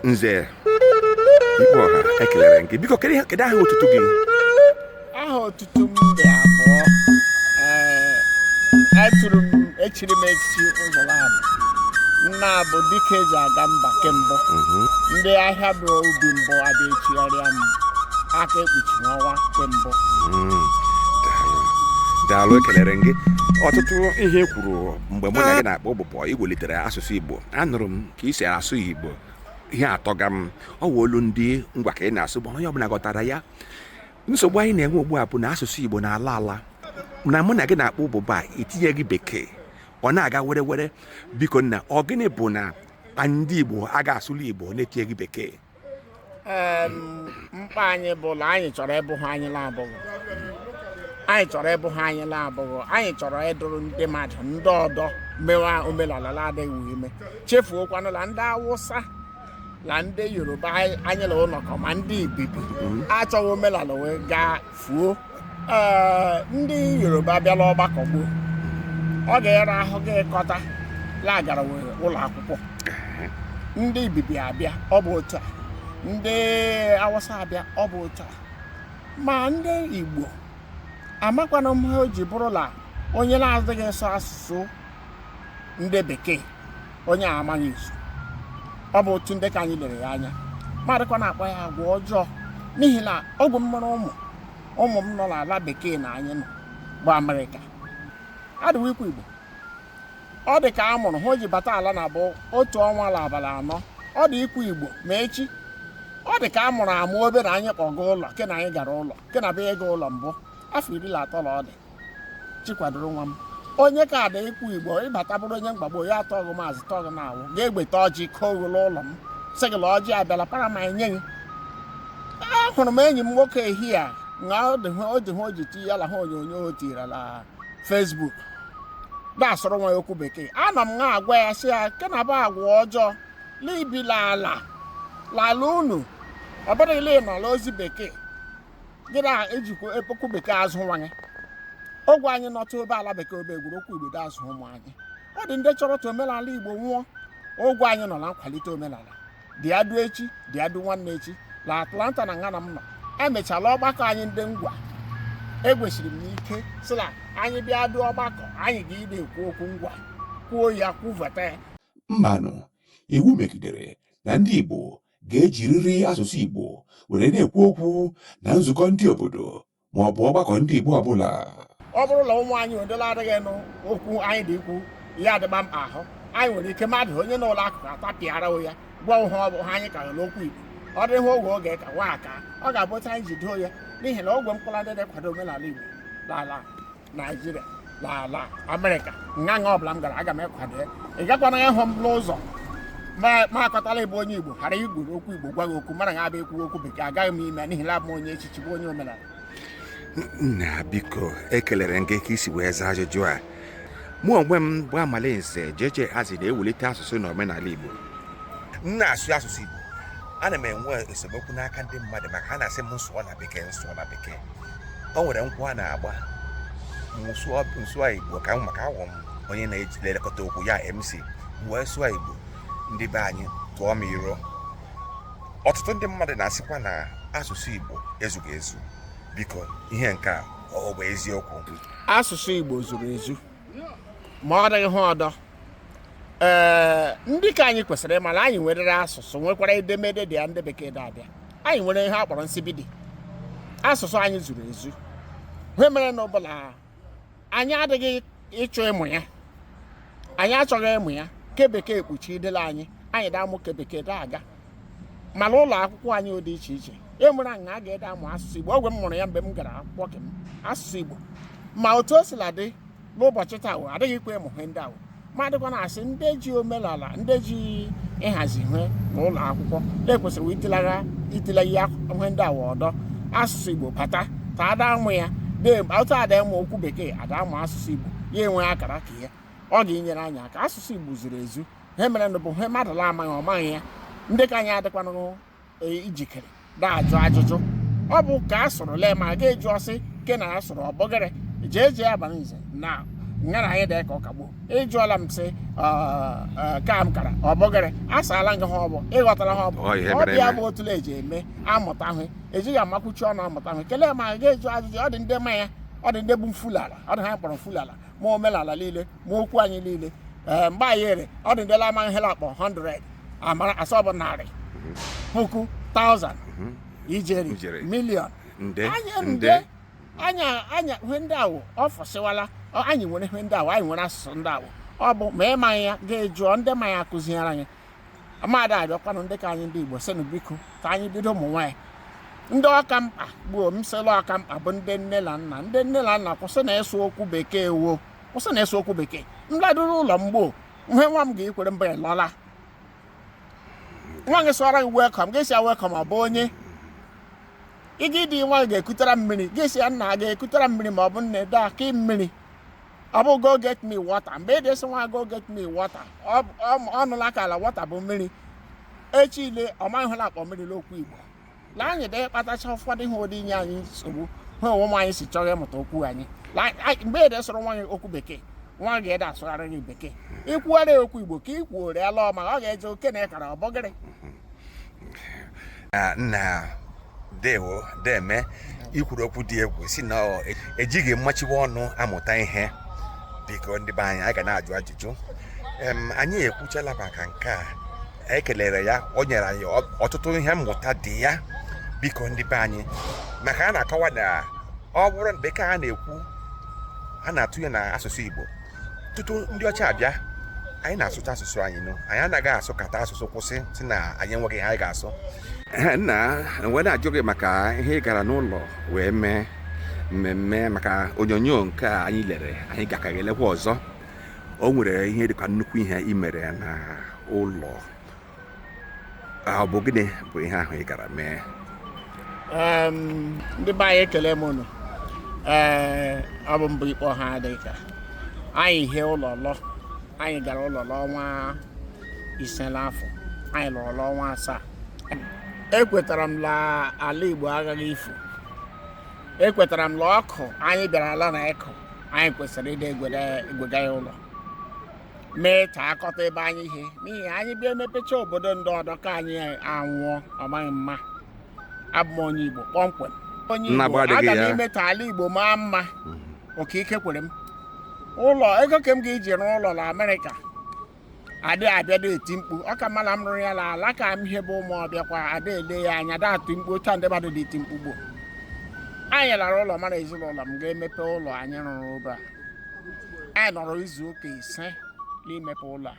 nze ikpe ọha ekelere gị biko kedu ihe- kedu aha otutu gị aha otutu m dị abụọ Ee, atụrụ m echiri m echichi ụzọ laabụ nnaa bụ dike e ji aga mba ke mbụ ndị ahịaba ubi mbụ a bịa echigharịa m aka ekpuchi ọnwa nke mbụ Mm, daalụ. daalụ ekelere m gị ọtụtụ ihe i kwuru mgbe mụ na gị na-akpa ụbụbọ iwelitere asụsụ igbo anụrụ m ka i si asụ igbo ihe atọga m ọ wụ olu ndị ngwa ka ị na-asụ bụ onye ọbụla ghọtara ya nsogbu anyị na-enwe ugbu a bụ na asụsụ igbo na-ala ala na mụ na gị na-akpa ụbụbọ a itinyeghị bekee ọ na-aga werewere biko nna ọ gịnị bụ na ndị igbo a ga-asụli igbo na-etinyeghị bekee Em, mkpa anyị bụ na anyị chọrọ ịbụ ihe anyị na-abụghị anyị chọrọ ịbụ ihe anyị na-abụghị anyị chọrọ ịdụrụ ndị mmadụ ndị ọdọ mewa omenala na-adịghị ime chefuokwanụ na ndị awụsa na ndị yoruba anyị anyị na wo nọkọ ma ndị ibibi achọghị omenala we gaa fuo ndị yoruba abịa la ọgbakọ gbuo ọ ga-ịra ahụ gị ịkọta la agara were ụlọ akwụkwọ ndị ibibi abịa ọ bụ otu a ndị awụsa abịa ọ bụ otu a ma ndị igbo amakwanụ m ihe o ji bụrụ la onye na-adịghị ịsụ asụsụ ndị bekee onye a amaghị izu ọ bụ otu ndị ke anyị lere ya anya mmadụkwa na-akpọ ya agwa ọjọọ n'ihi na ọgwụ m mụrụ ụmụ ụmụ m nọ n'ala bekee na anyị nọ bụ amerịka adị we ikwu igbo ọ dị ka a mụrụ ha o ji bata ala na bụ otu ọnwa la abalị anọ ọ dị ikwu igbo ma echi ọ dị ka a mụrụ amụ obe na anyị ga ụlọ ke na anyị gara ụlọ ke na bụ ịga ụlọ mbụ afọ iri na atọ na ọ dị chikwadoro nwa m onye ke ada ikwu igbo ị bata bụrụ onye mgbagbo ya atọ ọgụ maazị tọọ gị na-awụ ga-egweta ọjị ka oghụlụ ụlọ m sị gị na ọjị abịala para maị enye gị ahụrụ m enyi m nwoke ehihie a na ọ dị hụ- ọ dị hụ o ji ti ya la ihe onyonyo o tiri na fesbuk na-asụrụ nwa ya okwu bekee anọ m na-agwa ya sị ya nke na bụ agwa ọjọọ libila ala lala unu ọ bụrụ la ị nọ la ozi bekee gị na-ejikwa okwu bekee azụ nwa gị ọgwụ anyị nọtụ obe ala bekee obe egwere okwu igbo azụ ụmụ anyị ọ dị ndị chọrọ tụ omenala igbo nwụọ ọgwụ anyị nọ na nkwalite omenala dị adụ echi dị adụ nwanne echi na atlanta na nga na m nọ emechala ọgbakọ anyị ndị ngwa egwesiri m ike sị na anyị bịa dụ ọgbakọ anyị ga-ịdị ekwu okwu ngwa kwuo ya kwuveta ya mmanụ iwu megidere na ndị igbo ga-ejiriri asụsụ Igbo were na-ekwu okwu na nzukọ ndị obodo ma ọ bụ ọgbakọ ndị Igbo ọbụla ọ bụrụ na ụmụ anyị odela adịghị nụ okwu anyị dị ikwu ya adịgba mkpa ahụ anyị nwere ike mmadụ onye nọ n'akụkụ atapịara ya gwa ha ọ bụ ha anyị kara la okwu Igbo ọ dịghị ogwe oge ka nwa aka ọ ga-abụ otu anyị ji doo ya n'ihi na ogwe mkpụrụ ndị na-ekwado omenala Igbo n'ala naijiria na ala amerịka nga nga ọbụla m gara aga m ekwado ya ị gakwana ịhụ m n'ụzọ ma akọtala ịbụ onye igbo ghara ikwuru okwu igbo gwa gị okwu mara nga abịa ekwu okwu bekee agaghị m ime n'ihi na abụ m onye echichi bụ onye omenala nna biko ekelere m gị ka i si wee zaa ajụjụ a mụ onwe m bụ amalinze jeje hazi na-ewulite asụsụ na omenala igbo m na-asụ asụsụ igbo ana m enwe esemokwu n'aka ndị mmadụ maka ha na-asị m m sụọ na bekee m sụọ na bekee o nwere nkwụ a na-agba m sụọ igbo ka maka awụ m onye na-elekọta okwu ya mc wee sụọ igbo ndị be anyị tụọ m iro ọtụtụ ndị mmadụ na-asịkwa na asụsụ igbo ezughị ezu biko ihe nke a ọ bụ eziokwu asụsụ igbo zuru ezu ma ọ dịghị ha ọdọ ee ndị ka anyị kwesịrị ịmara anyị nwerere asụsụ nwekwara edemede dị ya ndị bekee dị abịa anyị nwere ihe a kpọrọ nsibidi asụsụ anyị zuru ezu ihe merenụ bụ la anyị adịghị ịchọ ịmụ ya anyị achọghị ịmụ ya ke bekee ekpuchidela anyị anyị da amụ ke bekee da aga mana ụlọ akwụkwọ anyị dị iche iche e nwere aṅa a ga-ede amụ asụsụ igbo ogwe m mụrụ ya mgbe m gara akwụkwọ ke m asụsụ igbo ma otu o sila dị n'ụbọchị taa wụ adịghị ikwe ịmụ ihe ndị awụ madịkwa na-asị ndị ji omenala ndị ji ịhazi ihe na ụlọ akwụkwọ na e kwesịrị itilagha itile ya ihe ndị awụ ọdọ asụsụ igbo bata ada amụ ya otu ada ịmụ okwu bekee ada amụ asụsụ igbo ya enwe akara ka ya ọ ga-enyere anyị aka asụsụ igbo zuru ezu ha merenụ bụ ihe mmadụ la amaghị ọ maghị ya ndị ka anyị adịkwanụ e, ijikere na-ajụ ajụjụ ọ bụ ka a sụrụ lee ma a ga-ajụ ọ sị ke na a sụrụ ọbọgịrị jee jee abalị nze na nga na anyị dị ka ọkagbo ịjụọla m sị ka m kara ọbọgịrị asaala nga ha ọbụ ịghọtara ha ọbụ Ọ ihe ọ mere bịa eme. bụ otule eji eme amụta ahụ ejighị amakwuchi ọnụ amụta ahụ kelee ma a ga-ajụ ajụjụ ọ dị ndị ma ya ọ dị ndị bụ mfulala ọ dị ha kpọrọ mfulala ma omenala niile ma okwu anyị niile ee mgbe anyị ere ọ dị ndị la ama nhela akpọ 100 amara sị ọ bụ narị puku taụzand ijeri Ijeri. miliọn nde anyị nde nde anyị anyị ihe ndị awụ o fusiwala ọ- anyị nwere ihe ndị awụ anyị nwere asụsụ ndị awụ ọ bụ ma ị maghị ya ga jụọ ndị ma ya akụziere anyị a m da arịọkwanụ ndị ke anyị ndị igbo sịnụ biko ka anyị bido ụmụ nwaanyị ndị ọ ka mkpa bụ ọ m sị la ọ ka mkpa bụ ndị nne na nna ndị nne na nna kwụsị na ịsụ okwu bekee wo kwụsị na ịsụ okwu bekee m laduru ụlọ mgbo ihe nwa m ga-ekwere mba ya lọla nwa gị sụara gị welcome gị sị ya welcome ọ bụ onye ị ga ịdị nwa gị ga-ekutara mmiri gị sị ya nna gaa kutara m mmiri ma ọ bụ nne daa ka mmiri ọ bụ go get me water mgbe ị dị asị nwa go get me water ọ nụla kwa la water bụ mmiri echi ile ọ maghịla akpọ mmiri n'okwu Igbo na anyị dị kpatacha ụfọdụ ihe dị inye anyị nsogbu ha ụmụ anyị si chọrọ ịmụta okwu anyị mgbe ị dị asụrụ nwa gị okwu bekee nwa gị adị asụgharị gị bekee i kwuwara okwu Igbo ka ị kwuore ala ọma ọ ga-eje oke na ị kara ọ bụ gịrị nna ndewo ndeme i kwuru okwu dị egwu sị na ejighị mmechiwe ọnụ amụta ihe biko ndị be anyị anyị ga na-ajụ ajụjụ anyị ekwuchala maka nke a anyị kelere ya o nyere anyị ọtụtụ ihe mmụta dị ya biko ndị be anyị maka a na-akọwa na ọ bụrụ na bekee a na-ekwu a na-atụ ya na asụsụ Igbo tutu ndị ọcha abịa anyị na-asụcha asụsụ anyị nụ anyị anaghị asụ kata asụsụ kwụsị sị na anyị enweghị ihe anyị ga-asụ nna wee na-ajụ gị maka ihe ị gara n'ụlọ wee mee mmemme maka onyonyo nke a anyị lere anyị gakaghị elekwa ọzọ o nwere ihe dị ka nnukwu ihe i mere na ụlọ ọ bụ gịnị bụ ihe ahụ ị gara mee ndị be anyị ekele m unu ee ọ bụ mbụ ikpọ ha dị ka anyị hie ụlọ lọ anyị gara ụlọ la ọnwa ise n'afọ anyị lọrọ la ọnwa asaa ekwetara m la ala igbo agaghị ifu ekwetara m la ọkụ anyị bịara ala na ịkụ anyị kwesịrị ịdị egwega ya ụlọ mee ta akọta ebe anyị hi n'ihi anyị bịa emepecha obodo ndị ọdọ ke anyị anwụọ ọ maghị mma abụ m onye Igbo kpọmkwem onye Igbo aga m ime ka ala Igbo maa mma mhm. oke ike kwere m ụlọ ego ke m ga-eji rụọ ụlọ na Amerịka a dị abịa da eti mkpu ọ ka mma la m rụrụ ya na ala ke m hi bụ Ụmụọbịakwa a da ele ya anya da atụ mkpu otu ndị mmadụ dị eti mkpu gboo anyị lara ụlọ mara ezinụlọ m ga-emepe ụlọ anyị rụrụ ụba anyị nọrọ izu ụka ise n'imepe ụlọ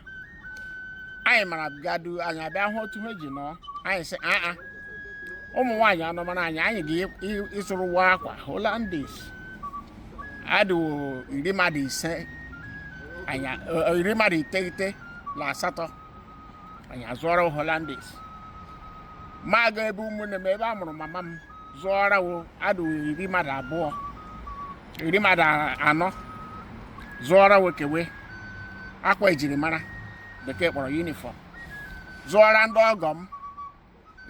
a anyị mara gadu anyị abịa hụ otu ha ji nọ anyị sị aa ụmụ nwaanyị anọmara anyị anyị ga-ịzụrụ wo akwa holandis adị wo iri mmadụ ise iri mmadụ iteghete na asatọ anyị azụọra wo holandis m aga ebe ụmụnne m ebe a mụrụ mama m zụọra wo adị wo iri mmadụ abụọ iri mmadụ anọ zụọra we kee we akwa ejirimara bekee kpọrọ yunifọm zụọra ndị ọgọ m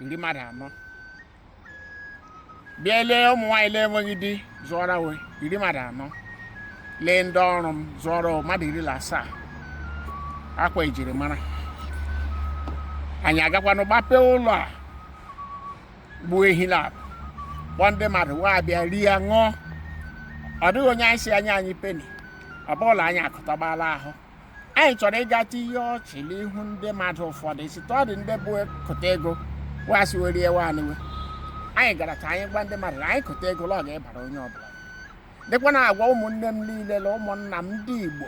iri mmadụ anọ bịa lee ụmụ nwaanyị le enweghị di zụọra we iri mmadụ anọ lee ndị ọrụ m zụọra mmadụ iri na asaa akwa ejirimara anyị agakwanụ gbapee ụlọ a gbuo ehi na akụ kpọọ ndị mmadụ wa abịa rie ya ṅụọ ọ dịghị onye anyị sị ya nye anyị peni ọ bụla anyị akụtọgbala ahụ anyị chọrọ ịga tinye ọchị n'ihu ndị mmadụ ụfọdụ site ọ dị ndị bụ kụta ego wa asị we rie we anị we anyị gara ka anyị gwa ndị mmadụ na anyị kụta ego l'ọ ga ịbara onye ọbụla dịkwa na-agwa ụmụnne m niile na ụmụnna m ndị igbo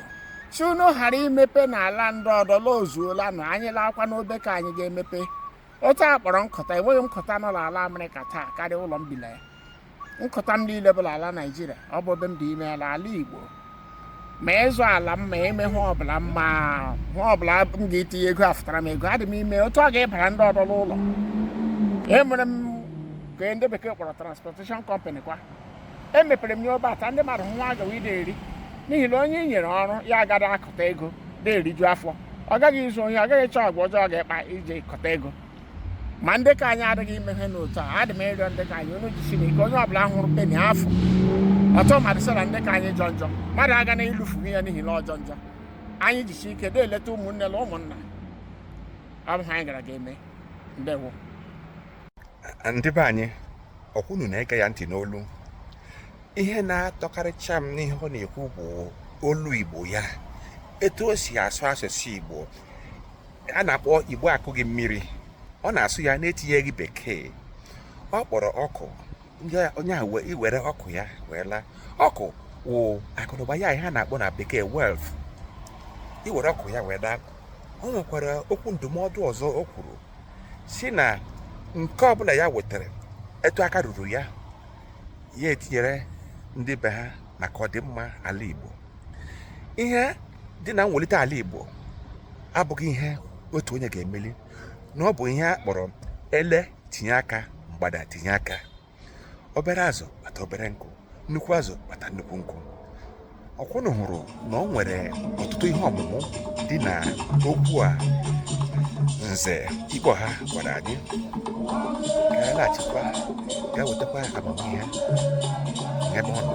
sị unu ghara imepe n'ala ndị ọdọ la ozuolanụ anyị laakwa n'obe ka anyị ga-emepe otu a kpọrọ nkụta enweghị nkụta nọ n'ala amerịka taa karịa ụlọ m bi la ya nkụta m niile bụ la ala naijiria ọ bụ ebe m dị ime ya la ala igbo ma ịzụ ala m ma ime ihe ọbụla ma ihe ọbụla m ga-etinye ego afụtara m ego adị m ime otu ọ ga ịbara ndị ọdọ n'ụlọ emere m ke ndị bekee kpọrọ transportation company kwa emepere m ya obe ata ndị mmadụ wa agawa ide eri n'ihi na onye i nyere ọrụ ya aga da akụta ego na-eriju afọ ọ gaghị izu ohi ọ gaghị ịchọ agwa ọjọọ ọ ga-akpa iji kụta ego ma ndị ka anyị adịghị ime ihe n'otu a adị m ịrịọ ndị ka anyị unu jisie ike onye ọbụla hụrụ peni afọ ọtọ mmadụ sara ndị ka anyị jọ njọ mmadụ agana ilufu ya n'ihi na ọ jọ njọ anyị jisi ike na-eleta ụmụnne na ụmụnna ọ bụ ihe anyị gara ga-eme ndewo ndị be anyị ọ kwa unu na-ege ya ntị n'olu ihe na-atọkarịcha m n'ihe ọ na-ekwu bụ olu igbo ya etu o si asụ asụsụ igbo a na-akpọ igbo akụghị mmiri ọ na-asụ ya na-etinyeghị bekee ọ kpọrọ ọkụ onye ahụ iwere ọkụ ya wee laa ọkụ wụ akụnụba ya ihe a na-akpọ na bekee wealth iwere ọkụ ya wee laa o nwekwara okwu ndụmọdụ ọzọ o kwuru sị na nke ọbụla ya wetara etu aka ruru ya ya etinyere ndị be ha maka ọdịmma ala Igbo ihe dị na mwelite ala Igbo abụghị ihe otu onye ga-emeli na ọ bụ ihe a kpọrọ ele tinye aka mgbada tinye aka obere azụ kpata obere nkụ nnukwu azụ kpata nnukwu nkụ ọ kwa unu hụrụ na o nwere ọtụtụ ihe ọmụmụ dị na okwu a nze ikpoha gwara anyị ka anyị laghachikwa ga nwetakwa amamihe n'ebe ọ nọ